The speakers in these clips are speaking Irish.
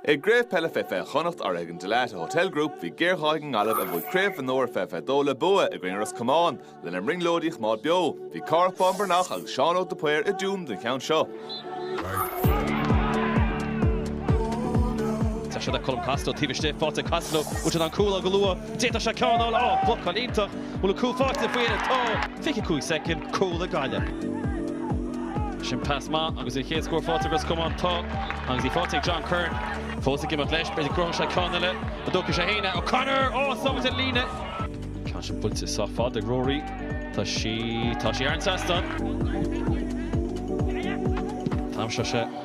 I gcraobh peile fé fiche Chonnacht urraithe ag an Dalata Hotel Group bhí géarghá ag an nGaillimh a bhuaigh Craobh Mhionúir i 2022 le bua i gcoinne Ros Comáin lena mbrionglóidí a choimeád beo. Bhí Cárthach Bán Breathnach agus Seán Óg de Paor i dTuaim don cheann seo. Tá sé le Colm Costello taobh istigh, faighte ag Costello, Bhuail siad an cúl á go luath. D'fhéadfadh sé ceann a fháil á, blocáil iontach, bhfuil an cúl faighte faoi dheireadh tá. 25 soicind, cúl ag Gaillimh. Sin pas maith agus an chéad scór faighte ag Ros Comáin, tá agus í faighte ag John Curran. Fós ag imeacht leis, b'fhéidir go gcruthóidh sé ceann eile, an dtógfaidh sé fhéin é, O'Connor, oh sábhailte ar an líne. Ceann sin buailte sách fada ag Rory, tá sí, tá sí thar an trasnán. Táim seo se.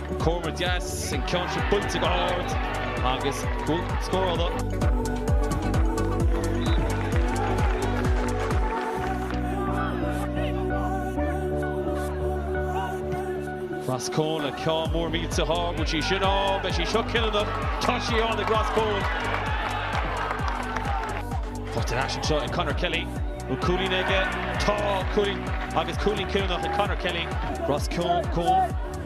Corner deas, an ceann sin buailte go hard agus cúl scórála. Ros Comáin le ceá mór míte há go sí sin á beidh sí seo cinniúnach tá sí á na Ros Comáin. Tá as seo ag Conor Kelly ú cúilín aige tá cúilín agus cúilín cinniúnach ag Conor Kelly Ros Comáin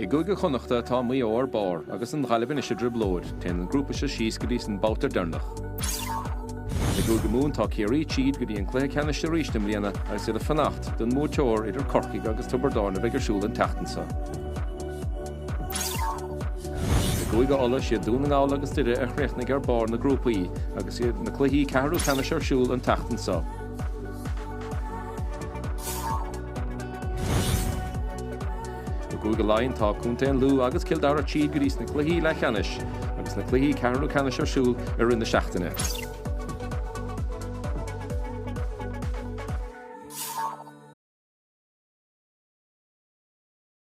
I gCúige Chonnacht tá Maigh Eo ar barr agus an Ghaillimh anois i dtrioblóid, téann an grúpa seo síos go dtí an babhta deireanach. I gCúige Mumhan tá Ciarraí tríd go dtí an cluiche ceannais arís i mbliana agus iad ag fanacht don mbuaiteoir idir Corcaigh agus Tiobraid Árann a bheidh ar siúl an tseachtain seo. I gCúige Uladh siad Dún na nGall agus Doire a chríochnaigh ar barr na grúpaí agus iad na cluichí ceathrú ceannais ar siúl an tseachtain seo. I gCúige Laighean, tá Contae an Lú agus Cill Dara tríd go dtí sna cluichí leathcheannais agus na cluichí ceathrú ceannais ar siúl i rith na seachtaine.